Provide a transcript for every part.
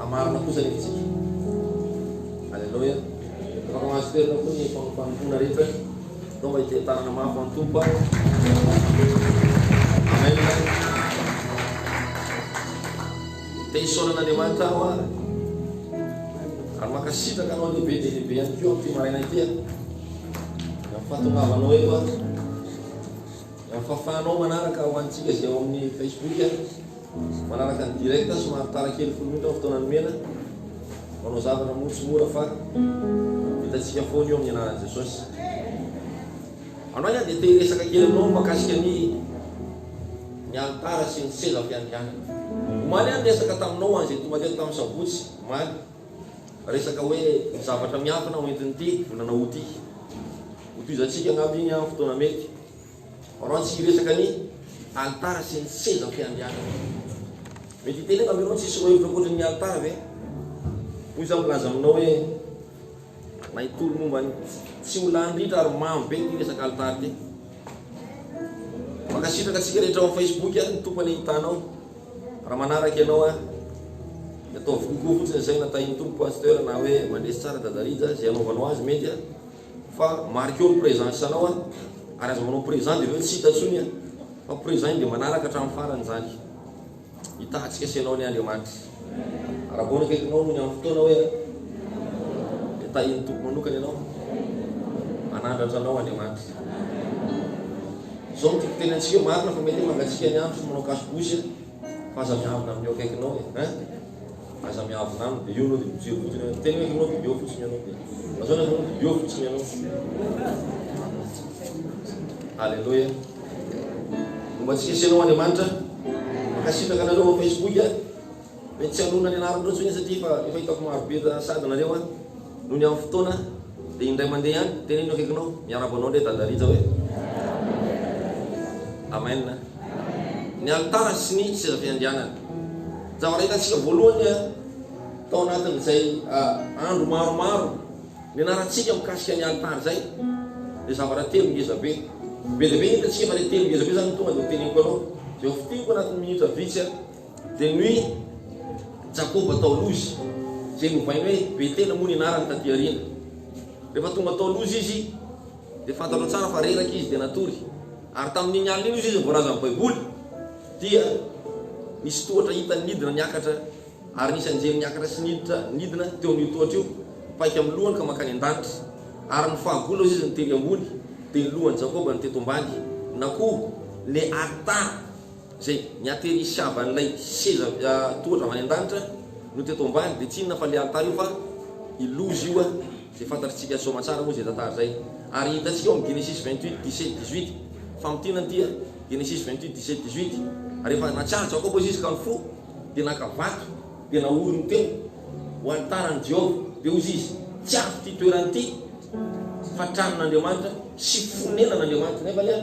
A marina kosa ny fitsipika. Aleloia. Afaka mahazo toerana koa ny fanompoana rehetra atao mba hitantanana mafy an'ny Tompo a. Amen. Te hisaona an'Andriamanitra aho a. Ary mankasitraka anao lehibe dia lehibe ihany koa amin'ity maraina ity a. Amin'ny fahatongavanao eto a. Amin'ny fahafahanao manaraka ho antsika izay ao amin'ny Facebook a. Manaraka ny direct somary tara kely folo minitra ao fotoana nomena manao zavatra moa tsy mora fa vitantsika foana io amin'ny anaran'i Jesosy. Anao ihany dia te hiresaka kely aminao mahakasika ny ny alitara sy ny seza fiandrianana. Omaly aho niresaka taminao ange tonga teto tamin'ny sabotsy omaly resaka hoe ny zavatra miafina hoentin'ity volana aout ity. Hotohizantsika angamba iny amin'ny fotoana mety. Ianao tsy hiresaka ny alitara sy ny sezam-piandrianana. Mety hitenenako ianao tsisy roahevitra ankoatra ny alitara ve? Hoy izaho milaza aminao hoe na hitory momba ny tsy ho lany ritra ary mamo be ity resaka alitara ity. Mankasitraka antsika rehetra ao amin'ny Facebook ary ny Tompo anie hitanao raha manaraka ianao ahy. Ataovy kokoa fotsiny izay natahin'ny Tompo Pasteur na hoe mandresy tsara Dadarija izay anaovanao azy mety Fa marqueo ny présent isanao a! Ary aza manao présent dia avy eo tsy hita intsony a! Fa présent iny dia manaraka hatramin'ny farany izany. Hitahatsika sy ianao anie Andriamanitra. Arabao ny akaikinao noho ny amin'ny fotoana hoe dia tahian'ny Tompo manokana ianao. Manandratra anao Andriamanitra. Izao no tiako ho teny antsika, marina fa mety hoe mangatsiaka ny andro sy manao kaso-bosy a! Aza miavona amin'io akaikinao e hein! Aza miavona aminy dia eo ianao dia mijery fotsiny hoe miteny hoe ianao dia eo fotsiny ianao dia azao ianao dia eo fotsiny ianao. Alléluia. Mba tsy hisy anao Andriamanitra. Mankasitraka anareo ao Facebook a. Mety tsy hanonona ny anaranareo intsony satria efa efa hitako maro be sady nareo a. Nony aho fotoana dia indray mandeha ihany teny eny akaikinao miarabo anao ndray dada Rija hoe Amen ny alitara sy ny seza fiandrianana zavatra hitantsika voalohany tao anatin'izay andro maromaro nianarantsika mikasika ny alitara izay dia zavatra telo ngeza be be dia be ny hitantsika fa ilay telo ngeza be izany tonga dia hoteneniko anao izay ho fintiniko anatin'ny minitra vitsy Dia ny hoe Jakoba tao Lozy, izay novaina hoe Betela moa ny anarany taty aoriana. Rehefa tonga tao Lozy izy, dia fantatrao tsara fa reraka izy dia natory. Ary tamin'iny alina iny izy no voalaza amin'ny Baiboly, dia nisy tohatra hitany nidina niakatra, ary nisy anjely niakatra sy niditra nidina teo amin'io tohatra io, paika amin'ny lohany ka mankany an-danitra. Ary ny fahagola ozy izy no tery ambony, dia ny lohan'i Jakoba no teto ambany, na koa le ata. Izay niaterisiavan'ilay seza tohatra avy any an-danitra no teto ambany dia tsy inona fa ilay alitara io fa i loza io izay fantatritsika soamatsara moa izay tantara izay ary hitantsika ao amin'ny Genesisy vingt huit dix sept dix huit famintinana ity a Genesisy vingt huit dix sept dix huit rehefa natsiaro Jakoba izy ka ny fo dia naka vato dia naoriny teo ho alitaran'i Jehovah dia hozy izy tsy avy ity toerana ity fa tranon'Andriamanitra sy fonenan'Andriamanitra nefa ilay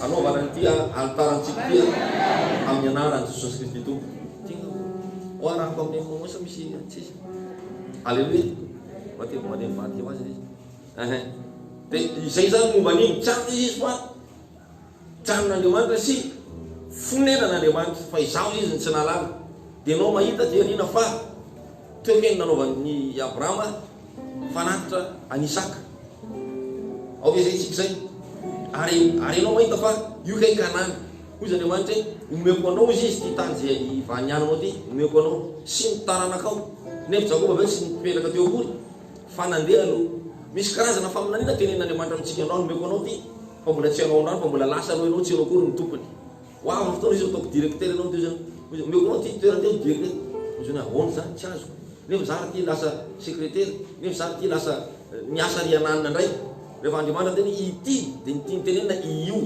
Hanaovana an'ity alitarantsika ity amin'ny anaran'i Jesosy Kristy Tompo. Ho arahako amin'ny Monosa misy antsisa. Aleloia. Mba teo mandeha mivady teo azy izy. Ehe. Dia izay zany momba an'iny. Tsy anona izy fa tsy anon'Andriamanitra sy fonenan'Andriamanitra fa izaho izy ny tsy nahalala. Dia ianao mahita dia liana fa teo ve ny nanaovan'ny Abrahama Mifanatitra an'i Isaka. Ao ve izay isika izay? Ary, ary ianao mahita fa io kay Kanana. Hoy izy Andriamanitra hoe, Omeko anao izy, izy ity tany izay ivaniananao ity, omeko anao, sy ny taranakao. Nefa Jakoba ve tsy nipetraka teo akory? Fa nandeha aloha. Misy karazana faminaniana tenenin'Andriamanitra amintsika, Androany omeko anao ity, fa mbola tsy ianao androany, fa mbola lasa aloha ianao, tsy ianao akory no tompony. Ho avy ny fotoana izy ataoko directeur anao teo zany hoy izy, omeko anao ity toerana ity aho directeur hoy zany ahoana zany tsy azoko nefa zah raha ty lasa secretaire nefa zah raha ty lasa miasa ry ananina ndray rehefa Andriamanitra miteny hoe ity dia ny tiany tenenina io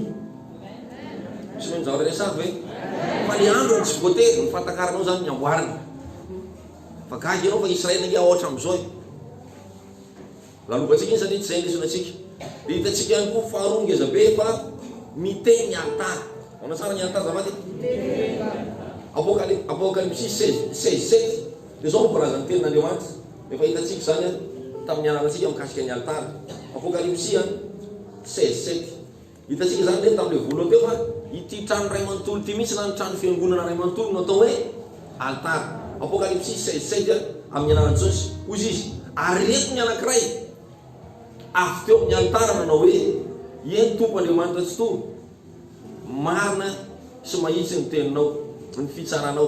tsy noho ny zavatra resahako ve fa le androny tsy voatery ny fahatakaranao zany ny amboariny fa gaga ianao fa Israel ange aotra amizao e Lalovantsika iny satria tsy izay no hisy antsika. Dia hitantsika ihany koa faharoa ngeza be fa miteny ny alitara. Manao tsara ny alitara azafady e. Apokaly, Apokalypsy seize, seize, sept, dia izao no voalazan' ny tenin' Andriamanitra. Efa hitantsika izany an, tamin'ny nianarantsika mikasika ny alitara. Apokalypsy an, seize, sept. Hitantsika izany ve tamin'ilay voalohany teo fa ity trano iray manontolo ity mihitsy na ny trano fiangonana iray manontolo no atao hoe alitara. Apokalypsy seize sept Amin'ny anaran'i Jesosy, hoy izy izy, ary ireto ny anankiray avy teo amin'ny alitara nanao hoe, Eny, Tompo Andriamanitra Tsitoha, marina sy mahitsy ny teninao, ny fitsaranao.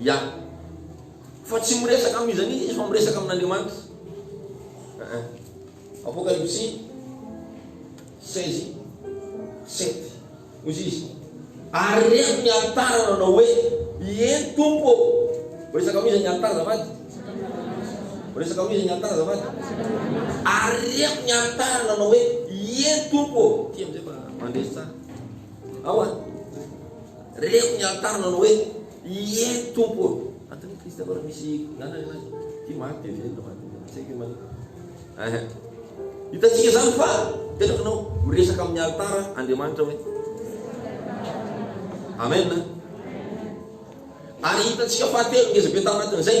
Ya. Fa tsy miresaka am izany izy fa miresaka amin Andriamanitra. Aa. Apokalypsy seize sept. Hoy izy, ary reko ny alitara nanao hoe, Ieny Tompo ô. Miresaka am izy ny alitara azafady. Miresaka am izy ny alitara azafady. Ary reko ny alitara nanao hoe, Ieny Tompo ô. Ty amizay fa mandresy tsara. Ahoana? Reto ny antaniny manao hoe, Ie, Tompo ô! Antony i Kristy aloha raha misy miala ny an'azy. Ity maty dia velona, maty dia velona. Tsy haiko io manina. Ehe. Hitantsika izany fa tena fanao miresaka amin'ny alitara Andriamanitra hoe. Amen. Ary hitantsika fahatelo ngezabe tao anatin'izay.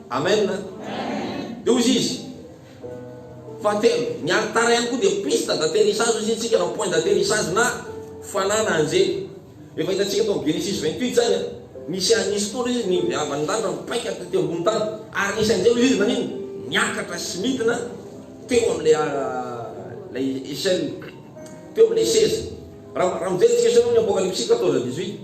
Amen! Dia hozy izy, Fahatelo, ny alitara ihany koa dia piste d'atterissage hozy isika na point d'atterissage na fanana anjely. Efa hitantsika tao amin'ny Genesis 28 izany an. Nisy anisy koa izy ny viavan'ny lanitra mipaika taty ambony tany ary nisy anjely hozy izy nanino? Niakatra sy nidina teo amin'ilay ah, ilay échelle, teo amin'ilay seza. Raha mijery tsiketrareo ny Apokalypsy 14, 18,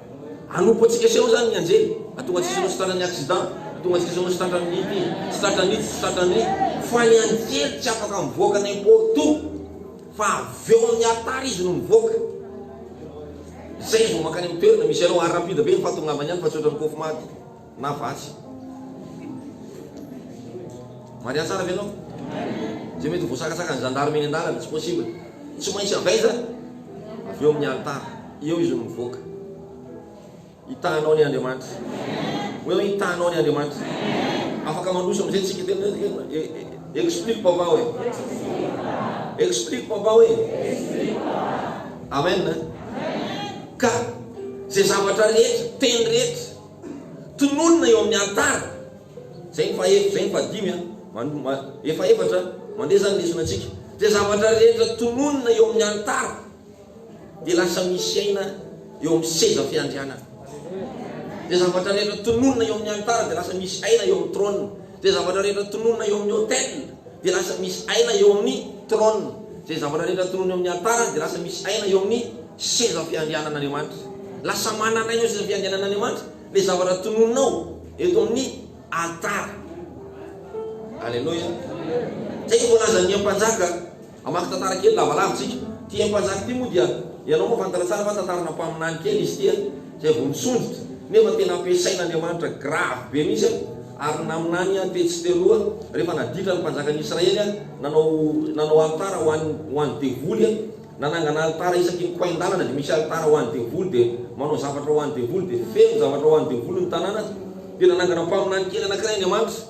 Hanompo antsika seho izany ny anjely, hahatonga antsika hanao sitranan'ny accident, hahatonga antsika hanao sitranan'ny ity, sitranan'ny ity, sitranan'ny ity. Fa ny anjely tsy afaka mivoaka n'importe où, fa avy eo amin'ny alitara izy no mivoaka. Izay izy vao mankany amin'ny toerana misy anao. Ary rapide be ny fahatongavany any fa tsy ohatran'ny kofmaty. Na vatsy. Maria tsara ve enao? Zay mety voasakasaka ny gendarme eny andalana, tsy possible. Tsy maintsy avaiza avy eo amin'ny alitara. Eo izy no mivoaka. Hitahanao ny Andriamanitra. Hoe hoe hitahanao ny Andriamanitra. Afaka mandroso amin'izay tsika tena hoe hoe e- e- e- explique papa hoe. Explique papa hoe. Amen. Ka zay zavatra rehetra, teny rehetra Tononina eo amin'ny alitara. Izay ny faha-efatra, izay ny faha-dimy a! Mano, efa efatra a! Mandeha izany lesonantsika. Izay zavatra rehetra tononina eo amin'ny alitara dia lasa misy aina eo amin'ny seza fiandrianana. Izay zavatra rehetra tononina eo amin'ny alitara dia lasa misy aina eo amin'ny trône. Izay zavatra rehetra tononina eo amin'ny autèle dia lasa misy aina eo amin'ny trône. Izay zavatra rehetra tononina eo amin'ny altara dia lasa misy aina eo amin'ny seza fiandrianan'Andriamanitra. Lasa manana aina eo seza fiandrianan'Andriamanitra ilay zavatra tononinao eto amin'ny altara. Aleloia. Izay no voalazan'ny Mpanjaka. Hamaky tantara kely lavalava isika. Ity Hery Mpanjaka ity moa dia ianao moa fantatra tsara fa tantarana mpaminany kely izy ity a! izay vao nisondrotra nefa tena ampiasain'Andriamanitra gravy be mihitsy a! ary naminany a! tetsy teroa rehefa naditra ny mpanjakan'i Israely a! nanao nanao alitara ho an'ny ho an'ny devoly a! nanangana alitara isaky ny koin-dalana dia misy alitara ho an'ny devoly dia manao zavatra ho an'ny devoly dia feno zavatra ho an'ny devoly ny tanàna dia nanangana mpaminany kely anankiray Andriamanitra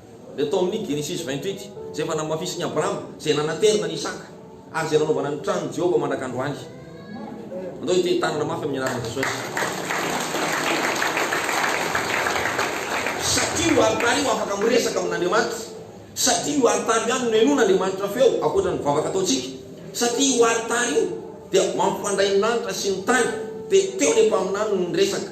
dia tao amin'ny Genesisy vingt huit, izay efa namafisin'i Abrahama, izay nanaterina an'i Isaka, ary izay nanaovana ny tranon'i Jehovah mandraka androany. Andao hiteni-tanana mafy amin'ny anaran'i Jesosy. Satria io alitara io afaka miresaka amin'Andriamanitra. Satria io alitara io ihany no nenoan'Andriamanitra feo, ankoatra ny vavaka ataontsika. Satria io alitara io dia mampifandray ny lanitra sy ny tany, dia teo ilay mpaminany no niresaka.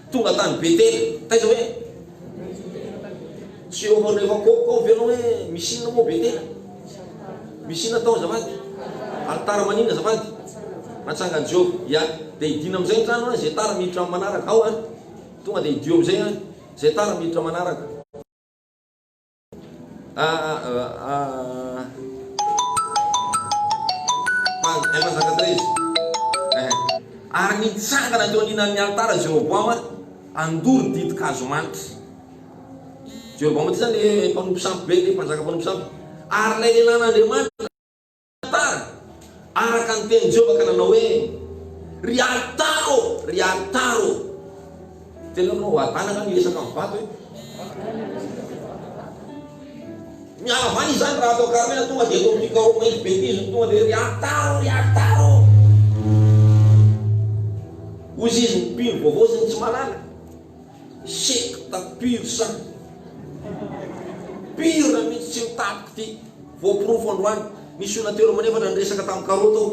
Tonga tany Betela. Taiza hoe? Tsy eo ambanin'ny reva kôkô ao ve ianao hoe misy inona moa ao Betela? Misy inona tao azafady? Alitara maninona azafady? Natsangan'i Jehovah. Ia. Dia hidiana amin'izay ny trano an, izay tara miditra amin'ny manaraka. Ao an! Tonga dia hidio amin'izay an, izay tara miditra amin'ny manaraka. Ary nitsangana teo aninan'ny alitara Jeroboama mpandoro ditin-kazo manitra. Jeroboama ity izany ilay mpanompo sampy be, ilay mpanjaka mpanompo sampy. Ary ilay lehilahin'Andriamanitra. Tantara, Araka ny tenin'i Jehovah ka nanao hoe, Ry alitara ô, ry alitara ô. Tena hoe manao hadalana ny miresaka amin'ny vato e. Mihavana izany raha atao karamela tonga dia atao amin'ny karoka izy betizy ny tonga dia ry alitara ô, ry alitara ô. Hoy izy ny mpino vaovao sy ny tsy malala. Secte pure sang. Pure mihitsy tsy mitapy kty. Voaporofo androany. Nisy olona telo amby efatra niresaka tam karoty aho.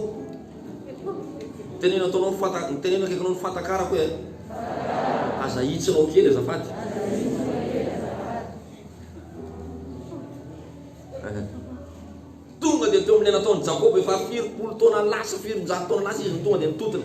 Teneno ataonao fanta teneno akaiky anao ny fantakarako e. Aza ahitsinao kely azafady. Tonga dia teo amin'ilay nataon'i Jakoba efa firy polo taona lasa, firinjato taona lasa izy no tonga dia nitotona.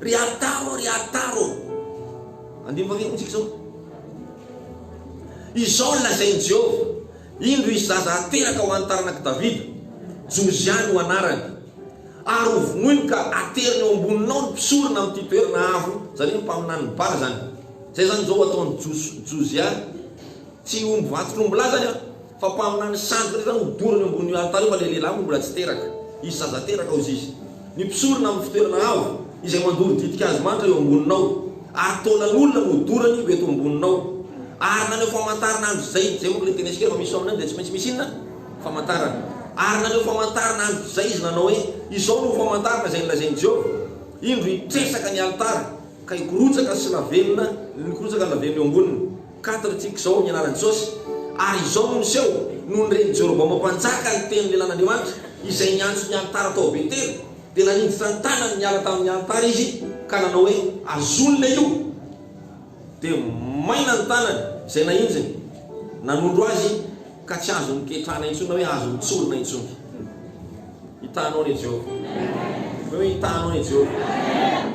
Ry ary taro ô, ry ary taro ô. Andiniko anie amintsika izao. Izao no lazain'i Jehovah, Indro hisy zaza hateraka ho an'ny taranak'i Davida, Josia no anarany. Ary hovonoiny ka haterina eo amboninao ny mpisorona amin'ity toerana avo, izany hoe ny mpaminanin'i Bala izany. Izay izany izao ho ataon'i Josia, tsy omby vantotr'ombilahy izany an. Fa mpaminany ny sandriny rehetra no dorany eo ambonin'io alitara io fa ilay lehilahy moa mbola tsy teraka. Hisy zaza teraka hozy izy. Ny mpisorona amin'ny fitoerana avo izay mandoro ditin-kazo manitra eo amboninao, ary taolan'olona no dorany ho eto amboninao. Ary naneho famantarana andro izay, izay manko ilay teny antsika rehefa misy faminaniana dia tsy maintsy misy inona? Famantarana. Ary naneho famantarana andro izay izy nanao hoe, Izao no ho famantarana izay nolazain'i Jehovah, Indro hitresaka ny alitara, ka hikorotsaka sy lavenona, hikorotsaka ny lavenona eo amboniny. Quatre tiako izao ny anaran'i Jesosy ary izao no niseho nony ren'i Jerobaoma mpanjaka ny tenin'ny lelan'Andriamanitra izay niantso ny alitara tao Betela dia nanindritra ny tanany niala tamin'ny alitara izy ka nanao hoe azonina io dia maina ny tanany izay nahinjiny nanondro azy ka tsy azony ketrana intsony na hoe azony tsorina intsony hitanao anie Jehovah Amen.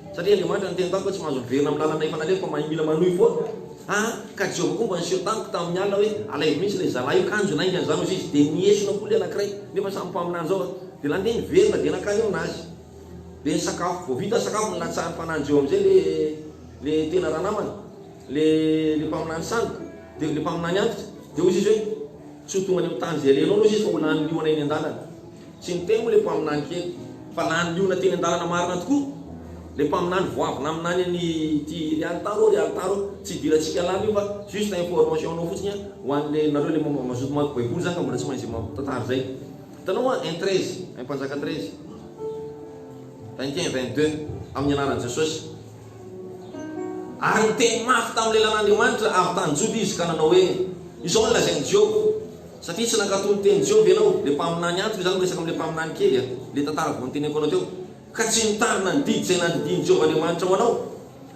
Satria Andriamanitra niteny tamiko hoe tsy mahazo miverina amin'ny lalana efa nalefako fa mila manohy foana. A Ka Jehovah koa mba niseho tamiko tamin'ny alina hoe, Alaivo mihitsy ilay zalahy io, kanjo naingany izany hozy izy. Dia niesona koa ilay anankiray, nefa samy mpaminany izao a. Dia lany dia niverina, dia nankany ao nazy. Dia nisakafo. Vao vita sakafo, nilatsahan'ny fanahin'i Jehovah amin'izay ilay, ilay tena ranamana, ilay, ilay mpaminany sandoka, dia, ilay mpaminany antitra. Dia hozy izy hoe, Tsy ho tonga any amin'ny tany izay alenao hozy izy fa ho lany liona eny an-dalana. Tsy niteny moa le mpaminany kely fa lany liona teny andalana marina tokoa le mpaminany vao avy naminany any ty ry alitara ô ry alitara ô tsy idirantsika lany io fa juste information nao fotsiny an ho any le nareo le mazoto mamaky baiboly zany ka mbola tsy mahay zay tantara zay hitanao hoa un treize un mpanjaka treize vingt et un vingt deux amin'ny anaran'i jesosy ary niteny mafy tamin'ny lelan'andriamanitra avy tany joda izy ka nanao hoe izao ny lazain'i jehovah Satria tsy nankatò ny tenin'i Joba ianao, ilay mpaminany antitra, izaho miresaka amin'ilay mpaminany kely, ilay tantara vao noteneniko anao teo, ka tsy nitarina ny didy izay nandidian'i Jehovah Andriamanitra ho anao,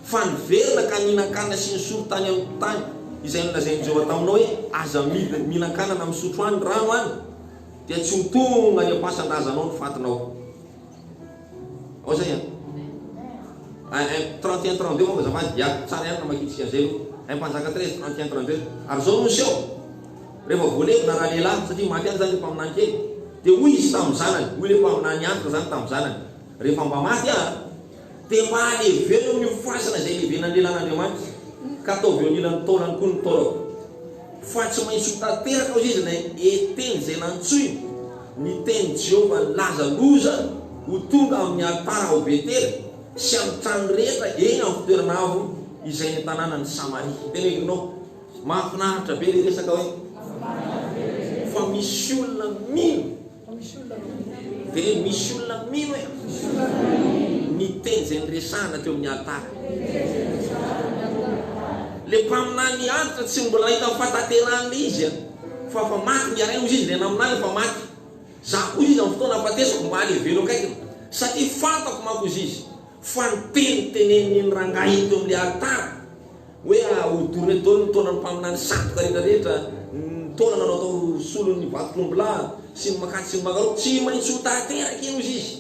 fa niverina ka nihinan-kanina sy nisolo tany amin'ny tany izay nolazain'i Jehovah taminao hoe, Aza mihinan-kanana misotro any rano any, dia tsy ho tonga any am-pasan-drazanao ny fatinao. Ao zay an. Eh, eh, 31 32 momba azafady, ya, tsara ihany namakiantsika an'izay aloha. Eh, Mpanjaka 13, 31 32. Ary izao no niseho, rehefa voalevina raha lehilahy, satria maty ihany izany ilay mpaminany kely, dia hoy izy tamin'ny zanany, hoy ilay mpaminany antitra izany tamin'ny zanany, rehefa mba maty aho, dia mba aleveno ny fasana izay ilevenan'ny lehilahin'Andriamanitra, ka ataovy eo anilan'ny taolany koa ny taolako. Fa tsy maintsy ho tanteraka hoy izy ilay eteny izay nantsoiny, Ny tenin'i Jehovah nilaza loza ho tonga amin'ny alitara ao Betela sy amin'ny trano rehetra eny amin'ny fitoerana avo izay ny tanànan'i Samaria. Tena hevitrao? Mahafinaritra be ilay resaka hoe fa misy olona mino. Dia misy olona mino e! Ny teny izay niresahana teo amin'ny alitara. Ilay mpaminanin'ny alitra tsy mbola nahita ny fahatanterahan'ilay izy e! Fa efa maty ny aray, hoy izy, ilay naminany efa maty. Izaho koa, hoy izy, amin'ny fotoana hahafatesako mba hany hevelo akaikiny. Satria fantako manko, hoy izy, fa ny teny teneniny iny rangahy iny teo amin'ilay alitara, Hoe ahodoro ireto daholo ny taonan'ny mpaminany sandoka rehetra rehetra, ny taona nanao tao solon'ny vatotr'ombilahy sy ny makasy sy ny mangaroa. Tsy maintsy ho tanteraka iny hozy izy.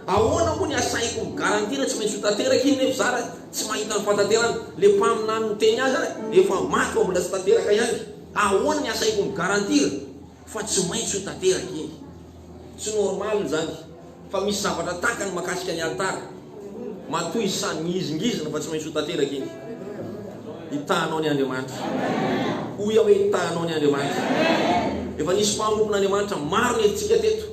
Ahoana moa ny asahiko mi-garantie na tsy maintsy ho tanteraka iny nefa za ra tsy mahita ny fantanterana? Le mpaminany niteny azy ra efa maty fa mbola tsy tanteraka ihany. Ahoana ny asahiko mi-garantie ra. Fa tsy maintsy ho tanteraka iny. Tsy normal izany fa misy zavatra takany makasika ny alitara. Matoa isany mihizingizina fa tsy maintsy ho tanteraka iny. Hitahanao ny Andriamanitra. Hoy aho hoe hitahanao ny Andriamanitra. Efa nisy mpanompon'Andriamanitra maro nentintsika teto.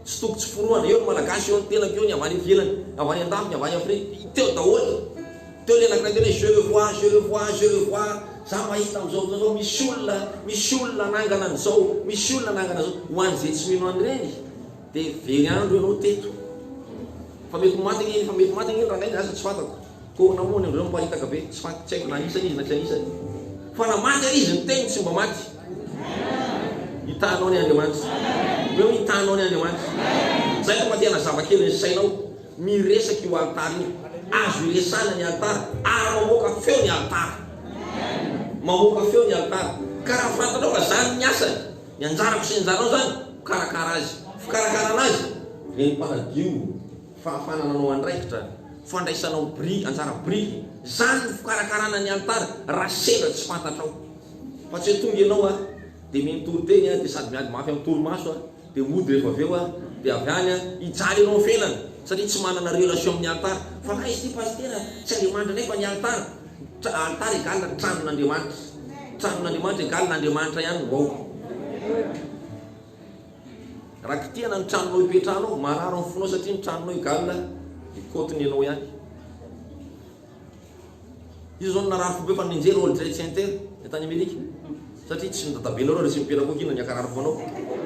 Tsy toko tsy forohana, eo ny Malagasy, eo ny tenako, eo ny avy any ivelany, avy any an-dafy, ny avy any Afrika, teo daholo. Teo ilay anankiray teo ilay je le vois, je le vois, je le vois, za mahita amin'izao fotoana izao misy olona, misy olona hanangana an'izao, misy olona hanangana an'izao. Ho an'izay tsy mino an'ireny dia very andro ianao teto. Fa mety ho maty ange iny, fa mety ho maty ange iny rangahy iny, za tsy fantako. Koa nahoana indreo no mparitaka be? Tsy maty, tsy haiko na anisany izy na tsy anisany. Fa na maty ary izy, ny teniny tsy mba maty. Hitanao ny Andriamanitra. Omeo hitanao ny Andriamanitra. Izay no maha-tena zava-kely ny sainao. Miresaka io alitara io. Azo iresahana ny alitara, ary mamoaka feo ny alitara. Mamoaka feo ny alitara. Ka raha fantanao fa izany ny asany, ny anjarako sy ny anjaranao izany, mikarakara azy. Fikarakarana azy, dia ny mpanadio. fahafahana nanao andraikitra, fandraisanao biriky, anjara biriky, izany no fikarakarana ny alitara raha sendra tsy fantatrao, fa tsy hoe tonga ianao a, dia minontoro teny a, dia sady miady mafy amin'ny torimaso a, dia hody rehefa avy eo a, dia avy any a, hijaly ianao felany, satria tsy manana relation amin'ny alitara, fa kay izy ity pasitera a, tsy Andriamanitra indray fa ny alitara, tra, alitara égale ny tranon'Andriamanitra, tranon'Andriamanitra égale Andriamanitra ihany, waouh. Raha kitihana ny tranonao ipetrahanao, marary ny fonao satria ny tranonao egalina ny côte-ny ianao ihany. Iza zao no narary fo be fa nijery World Trade Center ny tany Amerika? Satria tsy ny dadabenareo resy mipetraka ao aky no niakarary fo anao.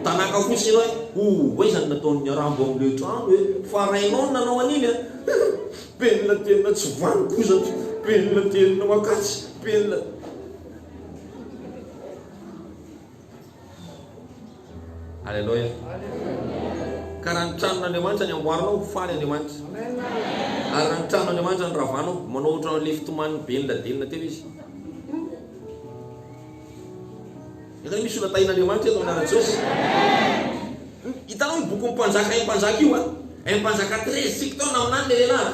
Tanaka fotsiny ianao e! Oa iza no nataon'ny Rambo an'ilay trano e? Fa rainao no nanao an'iny e! Penina tenina tsy vanon-kozatra, penina tenina makatsy, penina. Aleloia. Ka raha ny tranon'Andriamanitra ny amboarinao, ho faly Andriamanitra. Ary raha ny tranon'Andriamanitra ny ravanao, manao ohatran'ny ilay fitoman'ny ben'ny ladelina teo izy. Efa misy olona tahin'Andriamanitra eto amin'ny Jesosy. Hitanao ny bokin'ny mpanjaka im-panjaka io a? Im-panjaka 13 tsika tao naminany le lehilahy.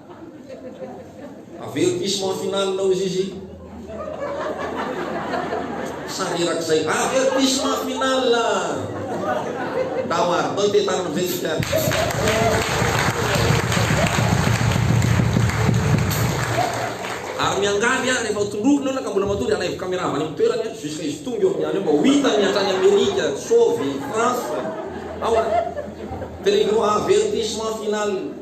Avertissement final nao izy izy. Sary erak'izay. Avertissement final. Tao ary tao te tamin'ny vetsika. Ary miangavy aho rehefa tondrovina eo ka mbola matoa dia alaivo caméra avy any amin'ny toerany aho jusqu'à izy tonga eo amin'ny any eo mba ho hitany hatrany Amerika, Sovy, France. Awa. Telegno avertissement final.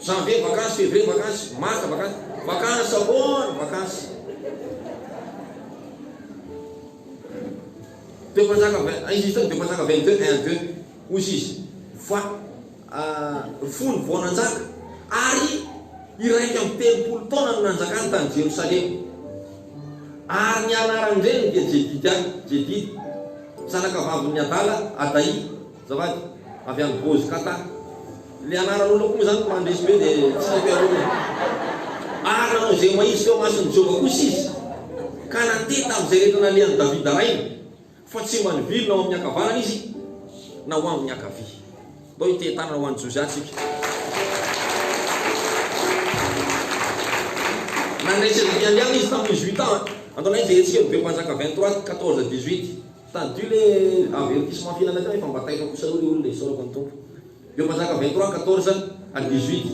Janvier vakansy, février vakansy, mars vakansy, vakansy ahoana vakansy? Dia mpanjaka vingt, izy izy tao dia mpanjaka vingt deux, un deux, hoy izy izy, va, ry fony vao nanjaka, ary iraika amby telopolo taona no nanjakany tany Jerosalema. Ary ny anaran'ny reniny dia Jedidia, Jedida, zanakavavin'i Adala, Adaia. Azafady, avy any Gozy Qatar. Le anaran'olona koa moa zany ko mandresy be de tsy mety aroany e. Ary nanao izay mahitsy teo amason'i Jehovah kosa izy, ka nanteha tamin'izay rehetra nalehan'i Davida rainy, fa tsy mba nivily na ho amin'ny ankavanana izy na ho amin'ny ankavia. Ndao hiteha tanana ho an'i Josia tsika. Nandray Sedekia andiany izy tamin'ny huit ans. Andao nahay jerentsika ny Be Mpanjaka 23, 14 à 18. Tadidio le avertissement fihinana teo efa mba taitra kosa aloha le olona e, isaorako ny Tompo. Eo mpanjaka vingt trois, quatorze à dix huit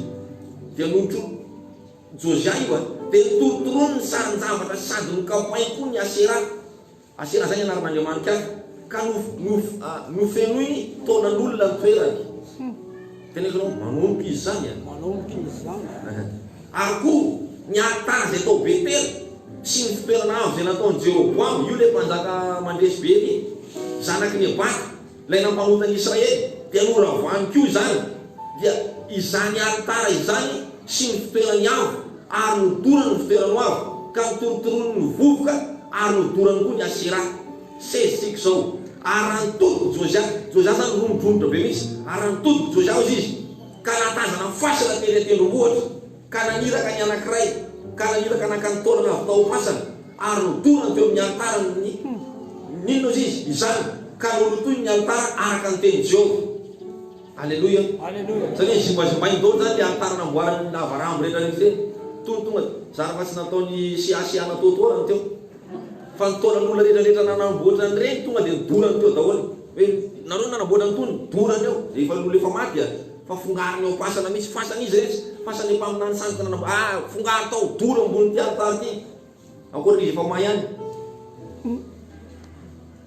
dia notro Josiah io a! Dia notorontoroniny ny sarin-javatra sady nokapohiny koa ny Asera, Asera zany anaran'andriamanitra, ka no no nofenoiny taonan'olona ny toerany. Tena ianao manomboka izy zany an! Manomboka izy zany! Ary koa ny alitara izay tao Betela sy ny fitoerana avo izay nataon'i Jeroboama, io ilay mpanjaka mandresy be ny zanaky Nebata, ilay nampanota ny Israely, dia noravany koa izany, dia izany alitara izany sy ny fitoerany avo, ary nodorany ny fitoerany avo, ka notorotoroiny ny vovoka, ary nodorany koa ny Asera. Seize tsiky zao aran todiko joja joja zany romodromotra be mihitsy aran todiko joja ozy izy ka nahatazana fasana tery atendrombohitra ka naniraka ny anakiray ka naniraka nakany taolana avy tao masana ary nodorany teo amin'ny alitara ny ninona ozy izy izany ka nolotoiny ny alitara araka ny tenin'i jehovah aleloia satria zimbazimbainy daolo zany le alitara namboaran'ny lava rambo rehetra rehetra ireny tony tonga zara fa tsy nataony siasiana toatoa raha ny teo Fa ny taona n'olona rehetra rehetra nanamboatra an'ireny tonga dia nidorany teo daholo. Hoe nareo nanamboatra an'itony, dorany eo. Rehefa ny olona efa maty dia fa fongariny eo am-pasana mihitsy. Fasan' izy rehetra. Fasan' ny mpaminany samy ka nanamboatra. Ah! Fongaro tao, doro ambonin'ity alitara ity. Ankoatran'izy efa may ihany.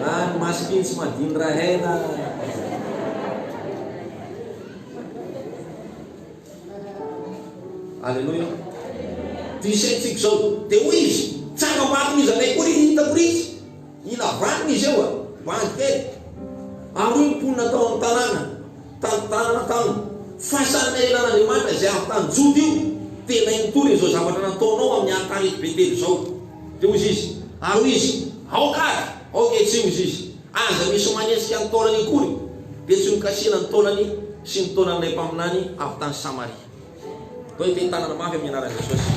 Any masikiny sy madiny rahaina. Aleloia. Ty saintsika izao. Dia hoy izy, tsara marina izy anay koa ry hitako ry izy. Ila vaniny izy eo a, bandy kely. Ary hoy ny mponina tao amin'ny tanàna, Tamin'ny taona tamin'ny fasan'ny ahilan'Andriamanitra izay avy tany Joda io, tena hitory izao zavatra nataonao amin'ny alitareto Betela izao. Dia hoy izy, ary hoy izy, Aoka ary! Aoka etsy! hoy izy, Aza misy manenjika ny taolany akory, dia tsy nokasihina ny taolany sy ny taolan'ilay mpaminany avy tany Samaria. Toa iten-tanana mafy amin'ny anaran'i Jesosy.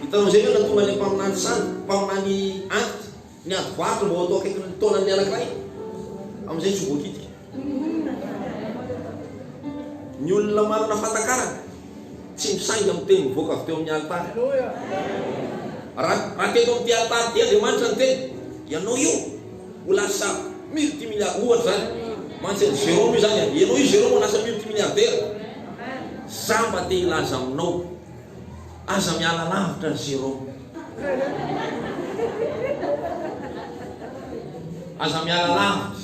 Hitanao izay ve raha tonga ilay mpaminany sany, mpaminany anty? Ny ady varotra vao atao akaiky ny taonan'ny anankiray, amin'izay tsy ho voakitika. Ny olona manana fahatakarana tsy misainga miteny mivoaka avy teo amin'ny alitara. Raha teto amin'ity alitara ity Andriamanitra niteny, ianao io ho lasa multimilliardaire, ohatra izany. Mantsy an'i Jérôme io izany an, ianao io Jérôme ho lasa multimilliardaire. Za mba te hilaza aminao. Aza miala lavitra an'i Jérôme. Aza miala lavitra.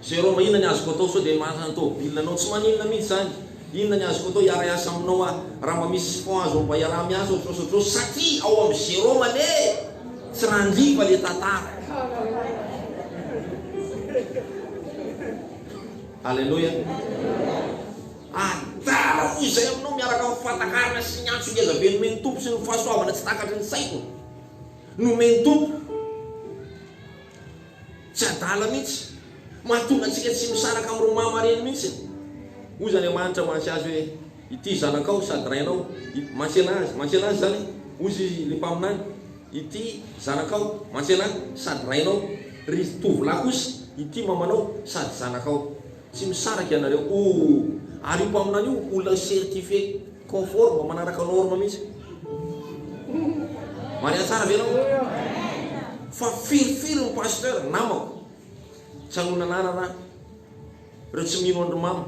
Jérôme inona ny azoko atao sao dia manana ny tôbila anao? Tsy maninona mihitsy izany. Inona ny azoko atao hiara-hiasa aminao aho? Raha mba misy support azonao mba hiaraha-miasa ohatrotr'osa ohatrotr'osa satria ao amin'i Jérôme anie e! Tsy randriva ilay tantara. Alléluia. Adala hoy izay aminao miaraka amin'ny fahatakarana sy ny antso ngeza be nomen'ny Tompo sy ny fahasoavana tsy takatry ny saiko nomen'ny Tompo. Tsy adala mihitsy. Mahatonga antsika tsy misaraka amin'ireo maha mareny mihitsy. Hoy izy Andriamanitra mantsy azy hoe, Ity zanakao sady rainao. Mantsena azy. Mantsena azy izany. Hoy izy ilay mpaminany, Ity zanakao. Mantsena ahy. Sady rainao. Ry tovolahy kosa, Ity mamanao. Sady zanakao. Tsy misaraka ianareo oo. Ary io mpaminany io olona certifier conforme manaraka norme mihitsy. Maria tsara ve enao? Fa firifiry ny pasteur namako tsy anona anarana ahy. Reo tsy mino andry mama.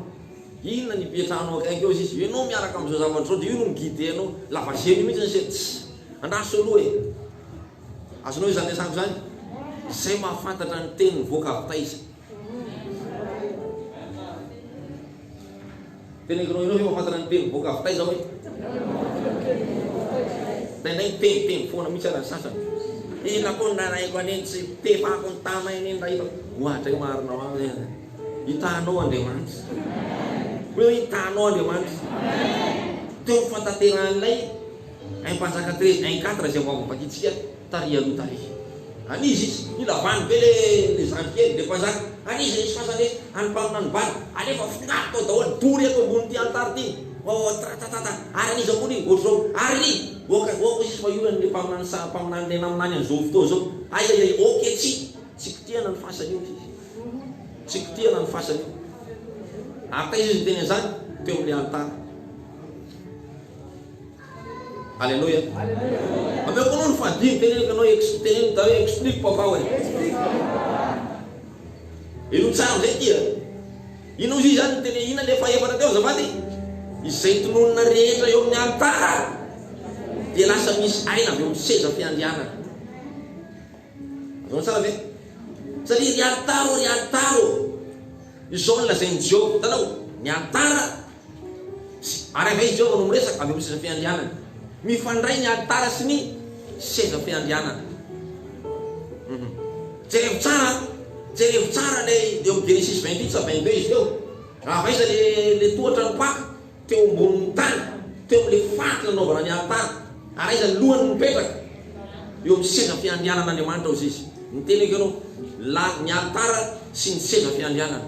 Inona ny ipetrahanao akaiky eo izy. Enao miaraka amzao zavatra zao de io no mi guider anao. Lava zelo mihitsy ny sefo. Tsy. Andraso aloha e. Azonao izany resako izany? Zay mahafantatra ny teny mivoaka avy taiza. Tena ianao ianao ve mahafantatra ny teny boaka avy taiza hoe? Indraindray miteniteny foana mihitsy ara ny sasany. Inona koa ny nalaiko an'iny tsy pepako ny tama iny raha hitako. Ohatray marina ho ahy hoe hitanao Andriamanitra. Hoe hoe hitanao Andriamanitra. Teo amin'ny fantaterahan'ilay un mpanjaka treize un quatre izay vao avy novakintsika Taria aloha taria. An iza izy? Mila vany be le le zandry kely, le mpazaka. An iza izy fa zany hoe any mpanona ny vany. Alefa afongaro tao daholo, dory eto ambony ty alitara ty. Oatratatata, ary an iza koa ry ohatr'izao? Ary oka oka ozy izy fa io an le mpaminany sa mpaminany le naminany an zao fotoa zao. Aiaiai ok tsy tsy potehana ny fasany io ty. Tsy potehana ny fasany io. Ary taiza izy niteny an'izany? Teo amin'ny alitara. Aleloia. Omeo koa aloha ny fahadimy teny anie ka anao ex teny anie ka explique papa hoe. Ino tsara amizay tia? Ino ozy zany ny teny ina le fahefatra teo azafady? Izay tononina rehetra eo amin'ny alitara dia lasa misy aina avy eo amin'ny seza fiandrianana. Azonao tsara ve? Satria ry alitara ô ry alitara ô. Izao no lazain'i Jehovah, hitanao? Ny alitara Sy ary avy eo i Jehovah no miresaka avy amin'ny seza fiandrianany. Mifandray ny alitara sy ny seza fiandrianana. Um. Jerevo tsara, jerevo tsara ilay eo amin'ny Genesisy 28 sa 22 izy teo. Raha avy aiza ilay le tohatra nipaka teo ambonin'ny tany, teo amin'ilay faritra nanaovana ny alitara, ary aiza ny lohany no mipetraka? Eo amin'ny seza fiandrianan'Andriamanitra hozizy. Niteny eky ianao, la, ny alitara sy ny seza fiandrianana.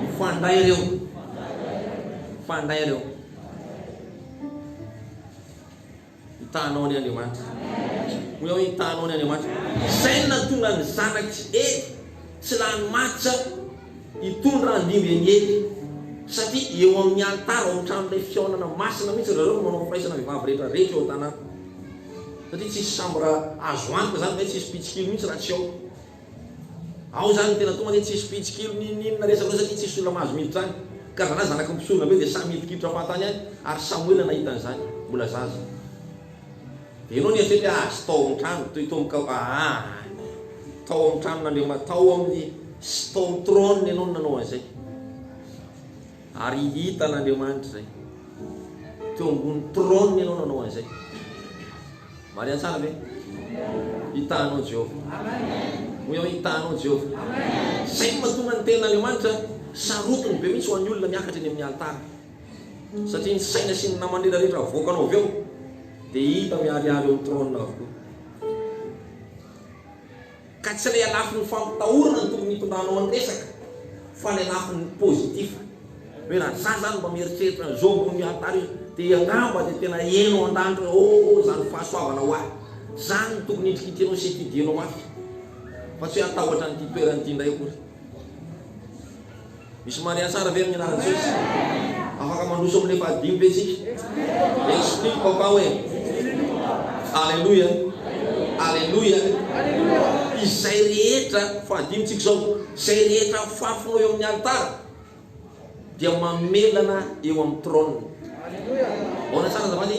Mifandray reo. Mifandray reo. Hitanao ny Andriamanitra. Hoy aho hitanao ny Andriamanitra. Izay no nahatonga ny zanak'i Ely tsy lany matsa hitondra andimby an'i Ely. Satria eo amin'ny alitara, ao amin'ny tranon'ilay fihaonana masina mihitsy ry zareo no manao firaisana vehivavy rehetra rehetra eo an-tanàna. Satria tsisy chambre azo antoka izany ve, tsisy mpitsikilo mihitsy raha tsy ao. Ao zany no tena tonga anie tsisy fihitsikilo ninoninona resaka loatra satria tsisy olona mahazo miditra any ka zalahy zanaky ny mpisorona be dia samy hidinkiditra fahatany any ary Samoela nahita an'izany mbola zaza dia enao nieritreritra hoe azy tao amin'ny trano toy tao amin'ny aany tao amin'ny tranon'Andriamanitra tao amin'ny sy tao amin'ny trône enao no nanao an'izay Ary hitan' Andriamanitra izay. Teo ambony trône ianao nanao an'izay. Maria tsara ve? Hitanao Jehovah. Hoy aho, hitanao Jehovah. Izay no mahatonga ny tenin' Andriamanitra sarotiny be mihitsy ho an'ny olona miakatra eny amin'ny alitara. Satria ny saina sy ny namany rehetra rehetra avoakanao avy eo dia hita miharihary eo amin'ny trône avokoa. Ka tsy ilay alafon'ny fampitahorana no tokony hitondranao ny resaka fa ilay lafiny positif. Hoe raha za zany mba mieritreritra an'izao ambony ny alitara io dia angamba dia tena heno an-danitra hoe oh izany fahasoavana ho ahy. Izany no tokony hitrikitrianao sy hididianao mafy fa tsy hoe hatahotra an'ity toerana ity indray akory. Misy maria tsara ve amin'ny anaran'i Jesosy? Afaka mandroso amin'ny fahadimy ve isika? Explique papa hoe. Aleloia. Aleloia. Izay rehetra, fahadimy tsika izao, izay rehetra fafno eo amin'ny alitara dia mamelana eo amin'ny trône. Ahoana tsara azafady?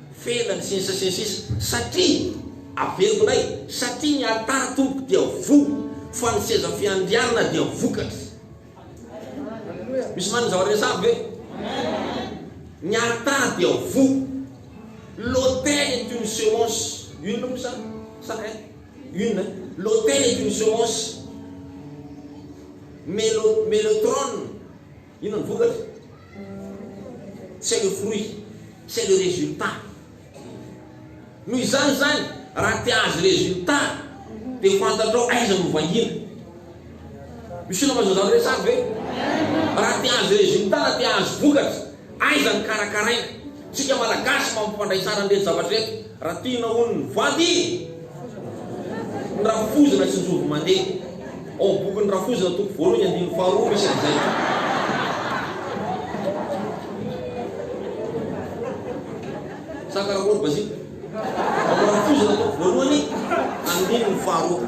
felany sy ny sisa sy ny sisa satria avelognay satria ny alitara tompoko dia voa fa ny seza fiandrianana dia vokatry misy manin'izao resah ve? ny alitara dia voa l'autel est une semence une moa sa sa eh une l'autel est une semence mais le mais le trône Inona ny vokatra? C'est le fruit, c'est le résultat. Noho izany izany, raha te hahazo résultat, dia fantatrao aiza no vahiny. Misy olona mazava izany resako ve? Raha te hahazo résultat na te hahazo vokatra, aiza no karakaraina? Tsika malagasy mampifandray tsara an'ireto zavatra ireto raha tiana hono ny vady ny rafozana tsy mijoro mandeha ao amin'ny bokin'ny rafozana toko voalohany andininy faharoa misy an'izay sa karakory bazika ao amin'ny rafozana toko voalohany andininy faharoa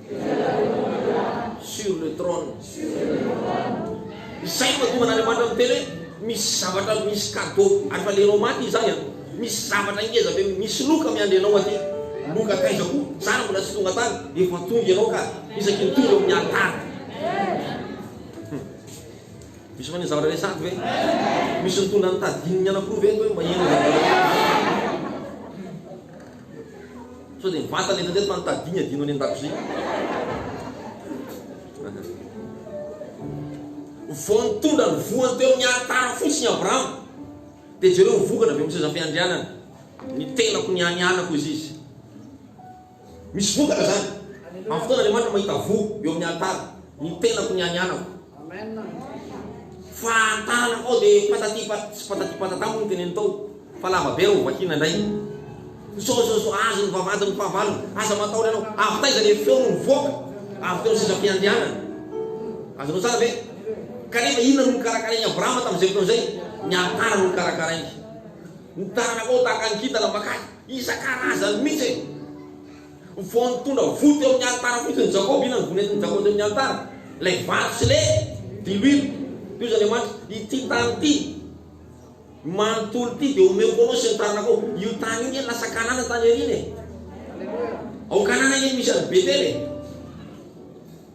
Sur le trône. Izay no mahatonga an'Andriamanitra miteny hoe misy zavatra misy cadeau ary fa lerao maty izy zany an! Misy zavatra ngeza be misy loka miandry anao aty. Loka taiza koa? Zara mbola tsy tonga tany. Efa tonga ianao ka isaky ny tonga eo amin'ny alitara. Misy fa ny zavatra resahiko ve? Misy nitondra ny tadin'ny anankiroa ve hoe mba hihaino zavatra resahiko? Sao dia mivantana eto indray ny fanotadiany adino any an-dakozia. Vao nitondra ny voany teo amin'ny alitara fotsiny Abrahama, dia jereo ny vokatra avy amin'ny sezam-piandrianana. Ny tenako ny any anako izy izy. Misy vokatra zany. Amin'ny fotoana Andriamanitra mahita voa eo amin'ny alitara, ny tenako ny any anako. Fa tana foa dia patati pat sy patati patata moa ny teneno tao fa lava be rô vakiana indray. Sao sao sao azy ny vavahady ny fahavalony. Aza matahotra anao. Avy taiza ilay feo no nivoaka avy teo ny sezam-piandrianana? Azonao tsara ve? Kanefa inona no nikarakarain'i Abrahama tamin'izay fotoana izay? Ny alitara no nikarakarainy. Ny tananakao tahaka ny kintana makany isan-karazany mihitsy e! Vao nitondra voa teo amin'ny alitara fotsiny i Jakoba, inona no voa nentin'i Jakoba teo amin'ny alitara? Ilay vato sy ilay diloilo. Tohizo Andriamanitra, ity tany ity manontolo ity dia omeko anao sy ny taranakao. Io tany io nge lasa Kanana tany aoriana e. Ao Kanana nge no misy an'i Betela e.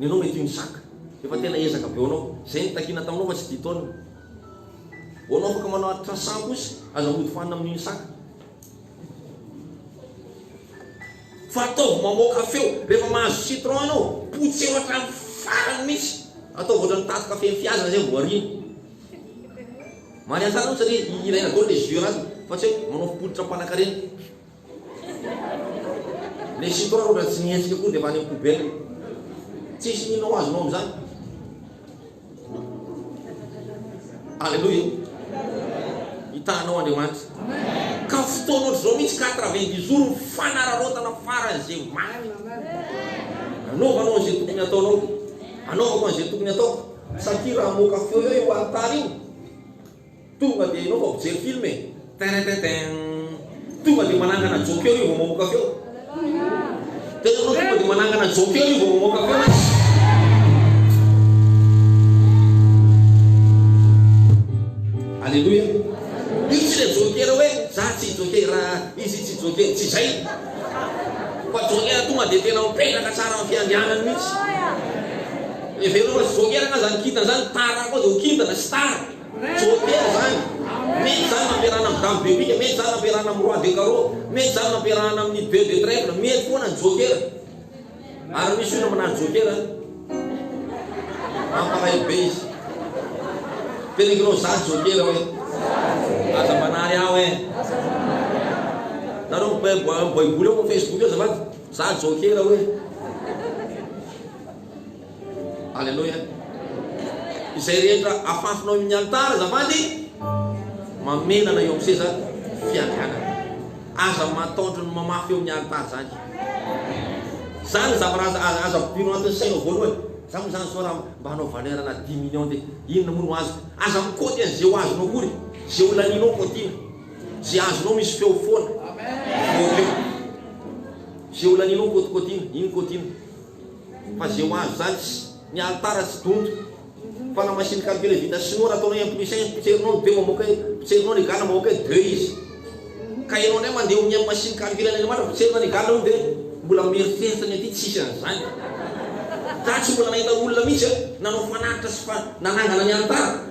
Nenao mety io ny sac. Efa tena ezaka be onao. Zay nitakiana taminao fa tsy ity taona. Onao afaka manao atra sac kosa. Aza mody fanina amin'iny sac. Fa ataovy mamoaka feo. Rehefa mahazo citron anao, potseho hatramin'ny farany mihitsy. Ataovy ohatran'ny taty kafe nifihazana zay vao ariana. Maniantsara mihitsy satria hihiraina daholo le jus anatiny fa tsy hoe manao fototra mpanankarena. Le sitrôny raha tsy mihetsika koa de avy any amin'ny poubelle. Tsisy mino ho azonao amin'izany. Alléluia. Hitanao Andriamanitra. Ka fotoana ohatr'izao mihitsy quatre-vingt-dix jours ny fanararaotana faran'izay omaly. Anaovanao an'izay tokony ataonao. Anaovako an'izay tokony ataoko. Satria raha hamoaka feo eo io alitara io. Tonga dia enao fa mpijery film e! Teretetein! Tonga dia manangana joker io vao mamoaka feo. Dia enao tonga dia manangana joker io vao mamoaka feo e! Aleloia! Io tsy ilay joker hoe za tsy joker, izy tsy joker, tsy izay. Fa Joker tonga dia tena mipetraka tsara amin'ny fiandrianany mihitsy. Hevero fa tsy Joker angaha izany kintana izany, tara koa dia ho kintana sy tara. Joker izany. Mety izany nampiarahana amin'ny dame de pique, mety izany nampiarahana amin'ny roi de carreau, mety izany nampiarahana amin'ny deux de trèfle, mety foana ny Joker. Ary misy olona manaja Joker an! Mampalahelo be izy. Peligrino za Joker hoe. Aza manary aho eh. Nareo baiboly ao Facebook eo azafady. Za Joker hoe. Aleloia! Izay rehetra afafinao eo amin'ny alitara azafady, mamelana eo amin'ny seza fiandrianana. Aza mataotra ny mamafy eo amin'ny alitara izany. Izany zavatra aza aza aza vobianao anatin'ny sainao voalohany. Za moa izany sao raha mba hanao valeur na dimy millions dia inona moa no azoko. Aza mikaoty an'izay ho azonao akory. Izay ho lanianao kaotiana. Izay azonao misy feo foana. Voa feo. Izay ho lanianao kaotikaotiana. Iny kaotiana. Fa ze ho azo zany tsy Ny alitara tsy donto Fa na machine calcule vita sinoa Raha ataonao un plus un izy Potserinao ny deux mamoaka un Potserinao ny égal mamoaka un deux izy Ka enao ndray mandeha omia machine calcule any Andriamanitra Potserina ny égal hono dia Mbola mieritreritra ny aty tsisy an'izany Za tsy mbola nahita olona mihitsy nanao fanatitra sy fa nanangana ny alitara.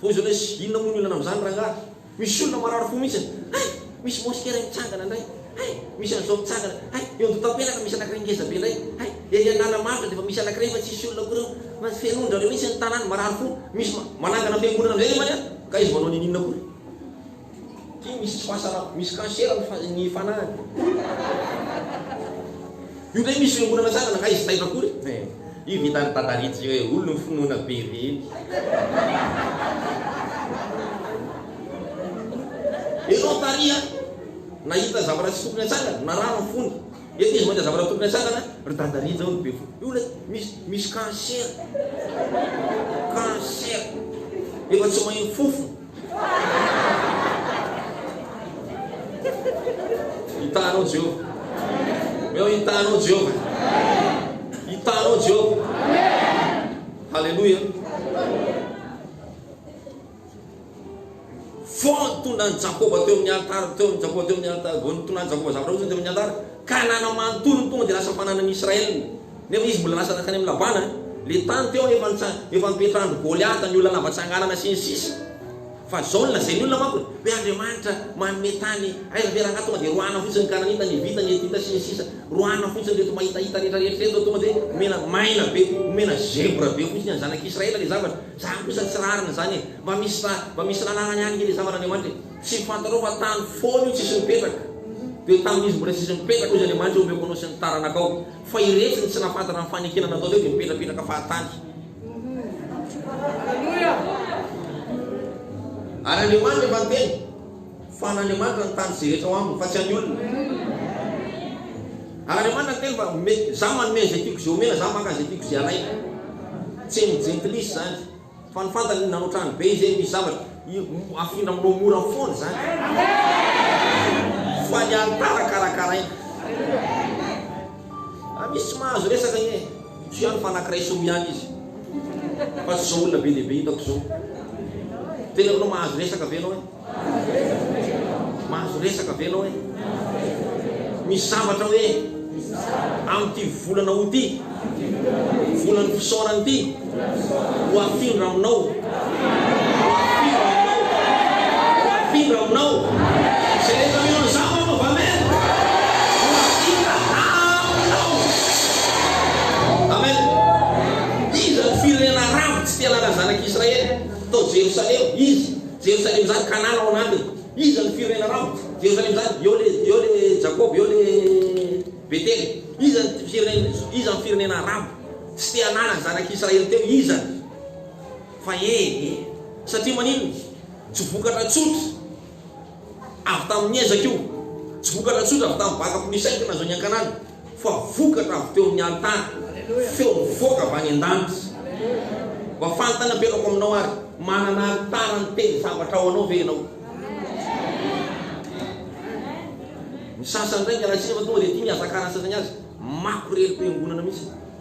Poizina izy, inona moa ny olana amin'izany rangahy? Misy olona marary fo mihitsy an! Hay! Misy moskera mitsangana indray! Hay! Misy an'izao mitsangana! Hay! Eo Andohatampelaka misy anankiray ngeza be indray! Hay! Ery Analamahatra dia efa misy anankiray fa tsisy olona akory ao! Fenoin-dry zareo mihitsy ny tanàna, marary fo! Misy manangana fiangonana indray anefa any an! Ka izy manao ninininona akory? Ty misy tsy mahasaraka, misy cancer ny ny fanahiny. Io ndray misy fiombonana tsara na aiza taitra akory e. Io vitan'i Dada Rich io e, olona finoana be ireny. Ianao Tary a, nahita zavatra tsy tokony hatsangana, narary ny fony. Eto izy mahita zavatra tokony hatsangana, ry Dada Rich ao no be fo. Io ilay misy misy cancer, cancer, efa tsy maheno fofona. Hitanao Jehovah. Omeo hitanao Jehovah. Hitanao Jehovah. Haleloia. Voatonan'i Jakoba teo amin'ny altara, teo amin'ny Jakoba teo amin'ny altara, voatonan'i Jakoba zavatra roa teo amin'ny altara, Kanana manontolo tonga dia lasa fananan'ny Israelina. Nefa izy mbola lasa nankany amin'i Labana, ilay tany teo anefa efa nipetrahan-dry Goliata, ny olona lava tsanganana sy ny sisa Fa izao no lazain'ny olona manko e, hoe Andriamanitra manome tany, aiza ve rangahy tonga dia roahina fotsiny ny Kananita, ny Hivita, ny Hetita sy ny sisa Roahina fotsiny ireto mahitahita rehetra rehetra ireto, tonga dia omena maina be, omena zebra be fotsiny an'ny zanak'i Israela ilay zavatra. Izany kosa tsy rariny izany e, mba misy, mba misy lalànany any ve ilay zava-n'Andriamanitra e? Tsy fantatrao fa tany foana io tsisy mipetraka, dia tamin'izy mbola tsisy mipetraka hoy izy Andriamanitra hoe omeko anao sy ny taranakao. Fa iretsy no tsy nahafantatra ny fanekena nataon'ireo dia mipetrapetraka fahatany. Ary Andriamanitra efa niteny fa an'Andriamanitra ny tany izay rehetra ao aminy fa tsy an'ny olona. Ary Andriamanitra niteny fa me, za manome an'izay tiako izay omena, za maka an'izay tiako izay alaina. Tsy ny jentilisa izany. Fa ny fantany ny nanao trano be izay misy zavatra afindra aminao mora foana izany fa ny alitara karakaraina ah misy tsy mahazo resaka anie tsy ihany fa anakiray solo ihany izy fa tsy izao olona be dia be hitako izao tena efa mahazo resaka ve ianao e Mahazo resaka ve ianao e? Misy zavatra hoe amin'ity volana aout ity, volan'ny fisaorana ity, ho afindra aminao, ho afindra aminao, ho afindra aminao. Izay rehetra mino an'izany anaovy amen. Ho afindra aminao. Amen. Iza ny firenena arabo tsy te hanana zanak'Israely tao Jerosalema? Iza? Jerosalema zany Kanana ao anatiny Iza no firenena rava Jerosalema zany Eo le eo le Jakoba eo le Betela Iza no firenena Iza no firenena rava Tsy te hanana ny zanak'i Israely teo Iza no Fa e e Satria maninona Tsy vokatra tsotra Avy tamin'ny ezaka io Tsy vokatra tsotra avy tamin'ny baka Mpisaingy nazahoany an-kanana fa vokatra avy teo amin'ny alintara, feo mivoaka avy any an-danitra. Mba fanontaniam-perako aminao ary, manana alitara niteny zavatra ho anao ve ianao? Ny sasany indray miala tsiny fa tonga dia tia mihazakara ny sasany azy, makorelin-piangonana mihitsy.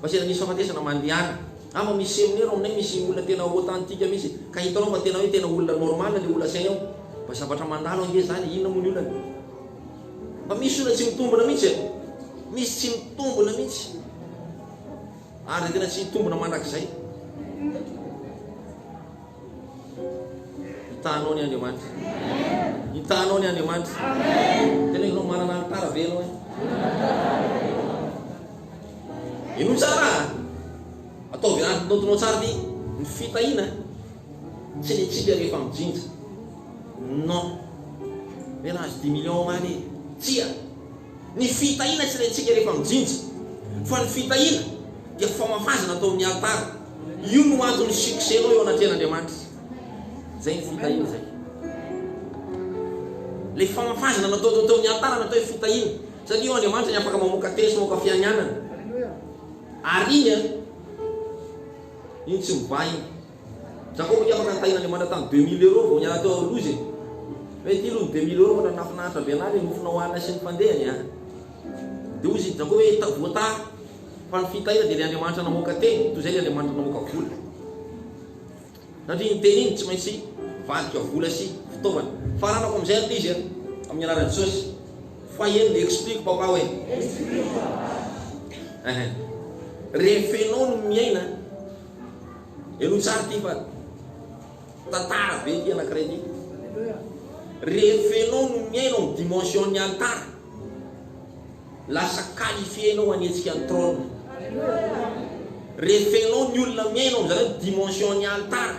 Fa sendra misy fahafatesana mandehana an! Mba misy seminaire ao aminay misy olona tena authentique mihitsy ka hitanao fa tena hoe tena olona normal le olona asainy ao! Mba zavatra mandalo ange zany e! Inona moa ny olana? Mba misy olona tsy mitombona mihitsy e! Misy tsy mitombona mihitsy ary tena tsy hitombona mandrakizay! Itahanao ny Andriamanitra. Itahanao ny Andriamanitra. Tena ianao manana ny tara ve ianao e? Ino tsara? Ataovy anaty notonao tsara ty ny fitahiana. Tsy ny tsika rehefa mijinja. Non. Mena azo 10 millions omaly e. Tsia. Ny fitahiana tsy rentsika rehefa mijinja, fa ny fitahiana dia famafazana tao amin'ny alitara. Io no anton'ny succès nao eo anatrehan'Andriamanitra. Zay ny fitahiana zay. Le famafazana natao tao tao amin'ny alitara natao hoe fitahiana. Satria eo Andriamanitra ny afaka mamoaka teny sy mamoaka fianianana. Ary iny an, iny tsy mibaha iny. Jakoba dia maka ny tahin'Andriamanitra tany deux mille euros vao niala teo ao Loza e! Fa ity aloha ny deux mille euros ohatrany nahafinaritra be anah le nofona hohanina sy ny fandehany a! Dia hozy i Jakoba hoe tadoha taha fa ny fitahina dia ilay Andriamanitra namoaka teny toy izay ilay Andriamanitra namoaka vola. Satria iny teny iny tsy maintsy vadika vola sy fitaovana. Faranako amin'izay aloha izy a! Amin'ny anaran'i Jesosy. Foyer le explique papa hoe. Explique papa. Rehefa ianao no miaina. Henoy tsara ity fa tantara be ity anankiray ity. Rehefa ianao no miaina ao dimension ny alitara, lasa qualifié ianao hanetsika ny trône. Rehefa ianao ny olona miaina ao amin'izany dimension ny alitara,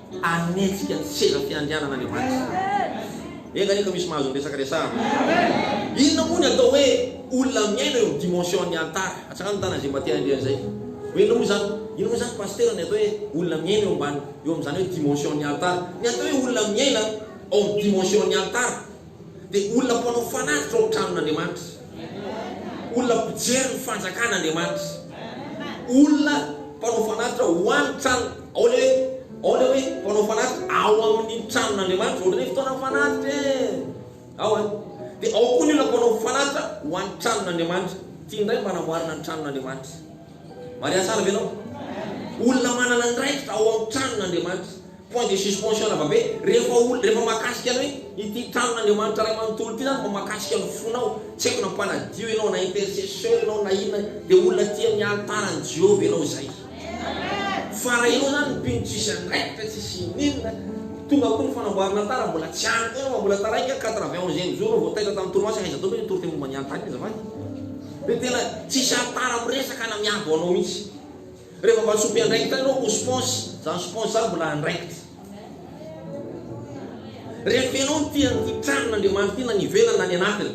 Hanetsika ny seza fiandrianana ny Evanjely. Enga anie ka misy mahazo ny resaka resahana. Inona moa ny atao hoe olona miaina eo amin'ny dimension ny Antara? Atsahano ny tanan'izay mba te handre an'izay. Hoe inona moa izany? Inona moa izany Pasitera ny atao hoe olona miaina eo ambany, eo amin'izany hoe dimension ny Antara? Ny atao hoe olona miaina ao amin'ny dimension ny Antara, dia olona mpanao fanatitra ao amin'ny tranon'Andriamanitra, olona mpijery ny fanjakan'Andriamanitra, olona mpanao fanatitra ho an'ny trano, ao ilay hoe, ao ilay hoe mpanao fanatitra ao amin'ny tranon'Andriamanitra, ohatran'ny hoe fotoana fanatitra e, ao a, dia ao koa ny olona mpanao fanatitra ho an'ny tranon'Andriamanitra, tia indray mba hanamboarana ny tranon'Andriamanitra. Maria tsara ve ianao? Olona manana andraikitra ao amin'ny tranon'Andriamanitra. Point de suspension lava be. Rehefa olona, rehefa mahakasika ny hoe ity tranon'Andriamanitra Ray manontolo ity na no mahakasika ny fonao, tsy haiko na mpanadio ianao na intercesseur ianao na inona, dia olona tia ny alitaran'i Jehovah ianao izay. Fara ianao izany ny mpino tsisy andraikitra, tsisy ininona. Tonga koa ny fanamboaran'alitara, mbola tsy ampy koa ianao fa mbola taraiky an, quatre-vingt-onzième jour no vao taitra tamin'ny torimaso, aiza daholo ve ny toriteny momba ny alitara iny azafady? Dia tena tsisy haritara am resaka na miabo anao mihitsy. Rehefa mba sompy andraikitra anao ho sponsy, zany sponsy zany mbola andraikitra. Rehefa ianao no tia an'ity tranon' Andriamanitra ity na ny ivelany na ny anatiny.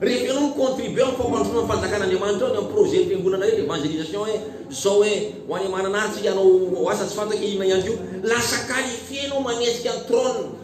Rehefa ianao mi contribuer am fampandrosoana ny fanjakan' Andriamanitra ao ny am projet ny fiangonana rehetra evangelisation hoe zao hoe ho any Mananara tsika hanao asa tsy fantako inona ihany koa. Lasa qualifier ianao manetsika ny trône.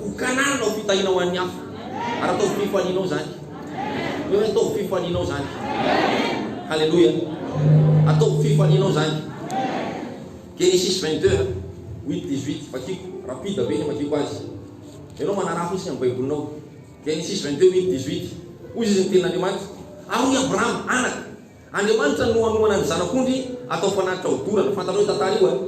Ho Kanana ho fitahiana ho an'ny hafa. Ary ataovy fifalianao izany. Hoy aho hoe ataovy fifalianao izany. Haleloia. Ataovy fifalianao izany. Genesis 22, 8, 18. Vakiko. Rapide be ny vakiko azy. Ianao manaraha fotsiny amin'ny Baibolinao. Genesis 22, 8, 18. Hoy izy ny tenin'Andriamanitra. Ary hoy Abrahama, anaka. Andriamanitra no hanohana ny zanak'ondry atao mpanatitra ho dorana. Fantatrao io tantara io an?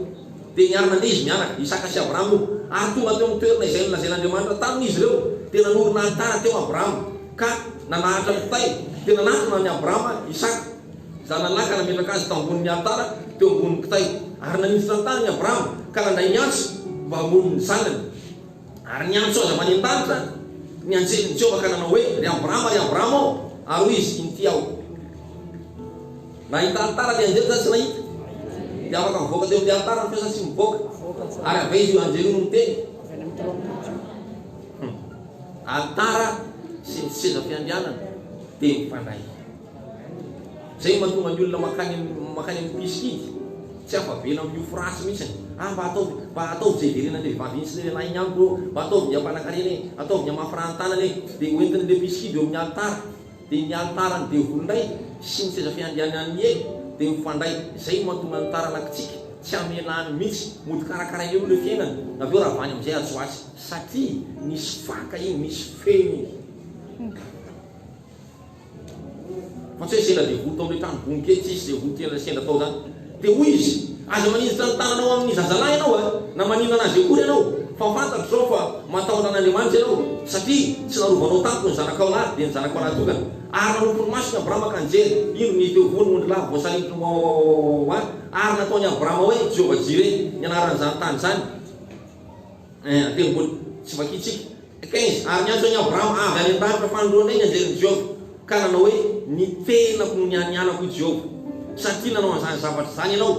Dia niary nandeha izy mianaka, Isaka sy Abrahama io, ary tonga teo amin'ny toerana izay nolazain'Andriamanitra taminy izy ireo. Dia nanorina alitara teo Abrahama, ka nanahatra kitay, dia nanatona an'i Abrahama Isaka, zanalahy, ka nametraka azy tao ambonin'ny alitara teo ambonin'ny kitay. Ary naninjitra ny tanany Abrahama, ka nandray ny antsy mba hamono ny zanany. Ary niantso azy avy any an-danitra ny anjelin'i Jehovah ka nanao hoe, Ry Abrahama, ry Abrahama ô! Ary hoy izy, Inty aho. Nahita alitara ny anjely sa tsy nahita? Dia afaka mivoaka teo amin'ity alitara ny feo sa tsy mivoaka? Ary avy aiza io anjely io no miteny? Alitara sy ny sezam-piandrianana dia mifandray. Izay no mahatonga ny olona mankany mankany amin'ny mpisikidy tsy afa-vela amin'io frasy mihitsiny, ah mba ataovy mba ataovy izay hiverenan'ny vehivavy iny sy ny lehilahy iny amiko ô, mba ataovy ny hampanan-karena e, ataovy ny hamafiràn-tanana e, dia hoentin'ilay mpisikidy eo amin'ny alitara, dia ny alitaran'ny devolinay sy ny seza fiandrianan'ny helo dia mifandray, izay no mahatonga ny taranakitsika tsy hamelany mihitsy, mody karakarainy eo aloha ilay fiainany, avy eo ravany amin'izay hahasoa azy. Satria misy faka iny, misy feno iny. Fa tsy hoe sendra dia vory tao amin'ilay trano bongo kely tsisy izay vory tian'ilay sendra tao izany. Dia hoy izy, Aza manindritra ny tananao amin'ny zazalahy ianao a! Na maninona anazy akory ianao, fa fantatro izao fa matahotra an'Andriamanitra ianao, satria tsy narovanao tamiko ny zanakao lahy, dia ny zanakao lahy tokana. Ary nanopy ny masony Abrama ka nijery, indro ny teo voany ondrilahy voasaringotra oaoaoaoaoa. Ary nataon'i Abrama hoe, Jehovah-jireh, ny anaran'izany tany izany. Eeh ate mbola tsy vakintsika. Quinze, Ary niantso an'i Abrahama avy any an-danitra fanindroany indray ny anjelin'i Jehovah, ka nanao hoe, Ny tenako no nianianako, hoy Jehovah, satria nanao an'izany zavatra izany ianao,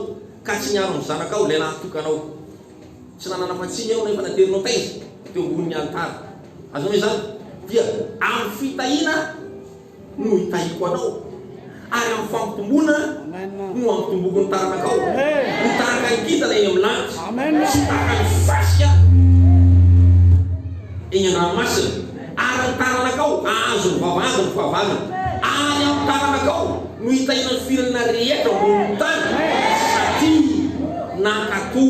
ka tsy niaro ny zanakao, ilay lahitokanao. Tsy nanana fahatsiny ianao, nefa naterinao taiza teo ambonin'ny alitara. Azonao izany? Dia amin'ny fitahiana. no hitahiako anao, ary amin'ny fampitombona no hampitomboko ny taranakao, ho taraka ny kintana eny amin'ny lanitra, sy ho tahaka ny fasika eny an-dranomasina, ary ny taranakao hahazo ny vavahady ny fahavalony, ary amin'ny taranakao no hitahiana ny firenena rehetra ambonin'ny tany, satria nankatò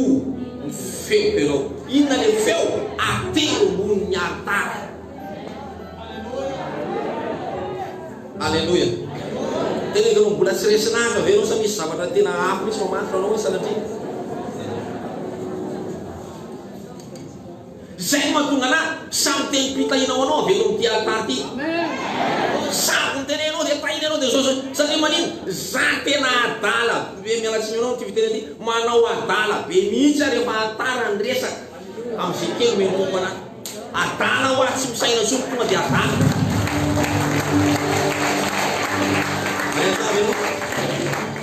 ny feoko ianao. Inona ilay feo? Atero ambonin'ny alitara. Aleloia. Tena ianao mbola tsy resy naka ve ianao sa misy zavatra tena hafa misy mamantra anao hoe sanatria? Zay no mahatonga anahy samy teny pitahinao anao avy eto amin'ity alitara ity. Samy ny teny anao dia tahina anao dia zao zao. Satria manino? Za tena adala be miala tsiny anao amin'ity fiteny ity. Manao adala be mihitsy ary efa tara ny resaka. Amin'izay kely omenonomana. Adala hoa tsy misaina intsony tonga dia adala.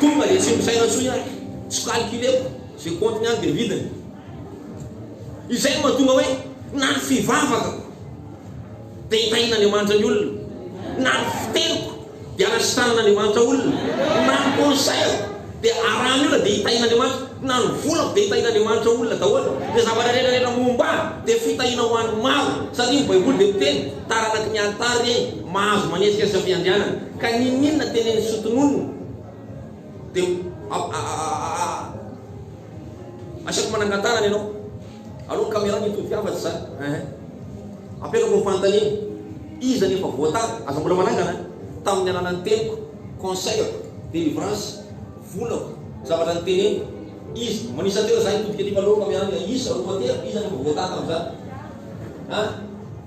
Tonga dia tsy misaina intsony aho. Tsy calculeko ze compte-ny any dia midina. Izay no mahatonga hoe na ny fivavakako dia hitahian'Andriamanitra ny olona na ny fiteniko. Dia anatry tanan'Andriamanitra olona, mpimaha conseil, dia arahany olona dia hitahian'Andriamanitra, mpinano vola dia hitahian'Andriamanitra olona daholo, dia zavatra rehetra rehetra momba ahy dia fitahiana ho an'ny maro, satria ny baiboly dia miteny, taranaky ny altar ey, mahazo manetsika sy ampiandrianana, ka n'inon'inona tenenin'ny soa tononina dia Asiako manangan-tanana ianao. Aleo ny caméra no hitodika hafa tsy za. Ehe. Apetrako ny fanontaniana. Iza no efa voatara? Aza mbola manangana an! Tamin'ny alalan'ny teniko, conseil-ako, délivrance, volako, zavatra niteneniko. Iza? Manisa telo za hitodika aty fa aleo ny caméra no hihisa. Roa telo, iza no efa voatara tamin'izany? An?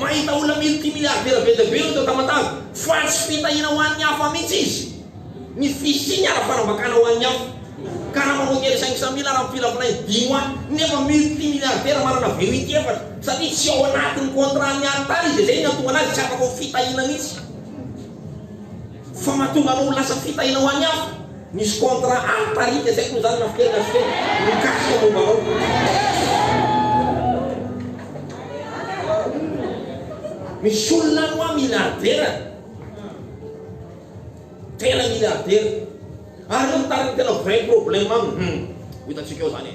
Mahita olona multimilliardaire be dia be ireo tao Tamatave. Fa tsy fitahiana ho an'ny hafa mihitsy izy. Ny fisiany ara-panambakana ho an'ny hafa. Karama mondial cinq cent mille ara-mpila volainy dimy hoa, nefa multimilliardaire manana VUT efatra. Satria tsy ao anatin'ny contrat-n'ny hary tany izy dia izay no niantohana azy tsy afaka ho fitahiana mihitsy. Fa mahatonga anao ho lasa fitahiana ho an'ny hafa. Misy contrat altarika izay toy izany mampiteny azy teny mikasika momba anao. Misy olona any hoa miliardera, tena miliardera, ary ireo mitariky ny tena vrai problème aminy, hum, ho hitantsika eo izany e.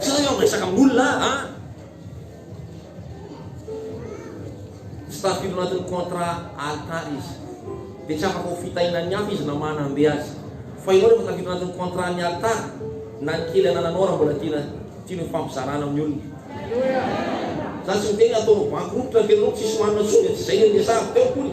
Sa eo miresaka amin'olona an? Tsy tafiditra ao anatin'ny contrat altar izy. Dia tsy afaka ho fitahinan'ny hafa izy na manam-be azy. Fa ianao rehefa tafiditra ao anatin'ny contrat ny altar, na ny kely anananao raha mbola tiana tianao ifampizarana amin'ny olona. Za tsy miteny ataonao bankropt ny fiainanao, tsisy marina intsony, tsy izay no niresahako teo akory.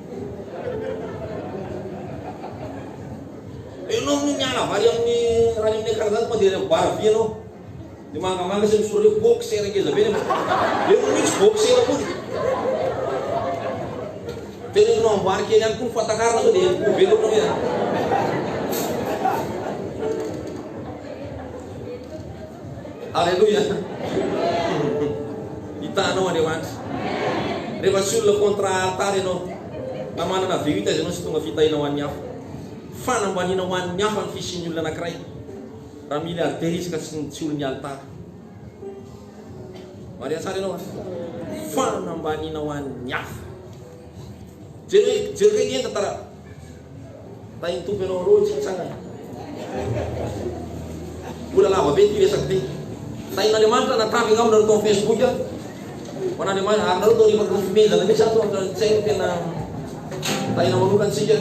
Ianao no miala avy any amin'ny Rainonay Karazany mandeha any amin'ny bar vy ianao. Ny mangamanga sy ny sorefa boxer ngeza be nefa efa misy boxer koa ny. Teneninao amboary kely ihany koa ny fatakarana sao dia ho be loatra ve an. Aleloia! Hitanao an'ireo andry. Rehefa tsy olona contre altar ianao, na manana V8 aza ianao, tsy tonga fitahiana ho an'ny hafa. Fanambaniana ho an'ny hafa ny fisian'ny olona anankiray. Raha milliardaire izy ka tsy tsy olon'ny altar. Maria tsara ianao a! Fanambaniana ho an'ny hafa. Jereo, jereo kay ny enta tara. Raha iny Tompo ianao ro tsy hitsangana. Mbola lava be ity resaka ity. Tahin'Andriamanitra na tavy angamba nareo tao amin'ny Facebook a. Ho an'Andriamanitra ary nareo tao rehefa nofomenjana mihitsy ato ohatra ny tsaino tena tahina manokana antsika.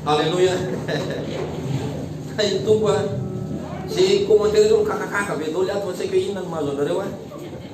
Alléluia. Tahin'ny Tompo a. Ze commentaire reo mikakakaka be daholo ato fa tsy haiko hoe inona no mahazo anareo a.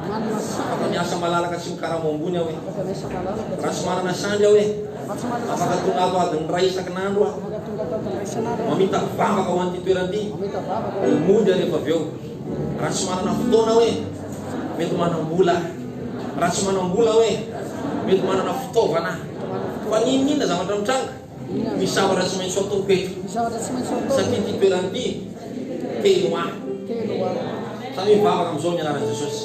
Afaka miasa malalaka sy mikarama ambony aho e! Raha tsy manana sandry aho e! Afaka tonga ato adiny iray isakin'andro aho. Mamitaky vavaka ho an'ity toerana ity, dia mody aho rehefa avy eo. Raha tsy manana fotoana aho e! Mety manam-bola aho. Raha tsy manam-bola aho e! Mety manana fitaovana aho. Fa n'inon'inona zavatra mitranga, Misy zavatra tsy maintsy ataoko eto. Satria ity toerana ity telo A. Tandremo vavaka amin'izao ny anaran'i Jesosy.